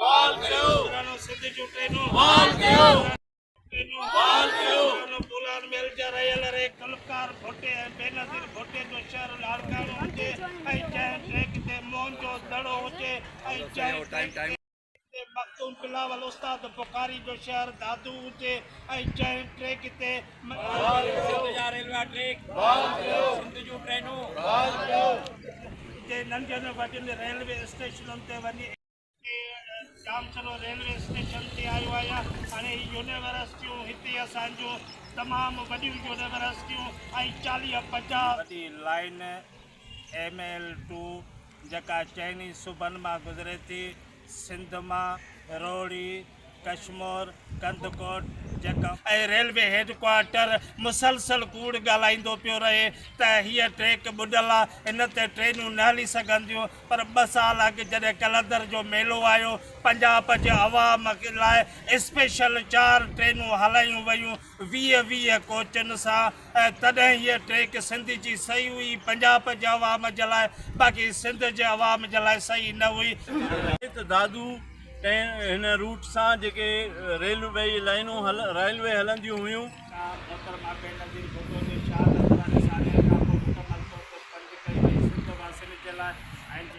بحال ڪيو پراڻو سنڌ جون ٽرينون بحال ڪيو ٽرينون بحال ڪيو پراڻو بولان ميل جا رهيل ري گلوڪار ڀٽي ۽ بينظير ڀٽي جو شهر لاڙڪاڻو هجي ۽ جنهن ٽريڪ تي موهن جو دڙو هجي ۽ جنهن ٽريڪ تي مخدوم بلاول استاد بخاري جو شهر دادو هجي ۽ جنهن ٽريڪ تي بحال ڪيو سنڌ جا ريلوي ٽريڪ بحال ڪيو سنڌ جون ٽرينون بحال ڪيو جي ننڍين وڏين ريلوي اسٽيشنن تي وڃي جام چلو ريلوي اسٽيشن تي آيو آهيان هاڻي هي يونيورسٽيون هتي اسان جون تمام وڏيون يونيورسٽيون ۽ چاليهه پنجاهه وڏي لائن ايم ايل ٽو جيڪا چئني صوبن مان گذري ٿي سنڌ مان روھڙي، ڪشمور، ڪنڌڪوٽ جيڪا. ۽ ريلوي هيڊ ڪوارٽر مسلسل ڪوڙ ڳالهائيندو پيو رهي ته هيء ٽريڪ ٻڏل آ، هن تي ٽرينون نه هلي سگهنديون، پر ٻه سال اڳ جڏهن قلندر جو ميلو آيو، پنجاب جي عوام لاء اسپيشل چار ٽرينون هلايون ويون ويهه ويهه ڪوچن سان، ۽ تڏهن هيء ٽيڪ سنڌ جي صحيح هئي، پنجاب جي عوام جي لاء، باقي سنڌ جي عوام جي لاء صحيح نه هئي. ته دادو ۽ هن روٽ سان جيڪي ريلوي لائينون Railway هلنديون هيون. جا محترمه بينظير ڀٽو جي شهادت واري ساليانه کانپوء مڪمل طور تي بند ڪئي وئي سنڌ واسين جي لاء ۽ جي.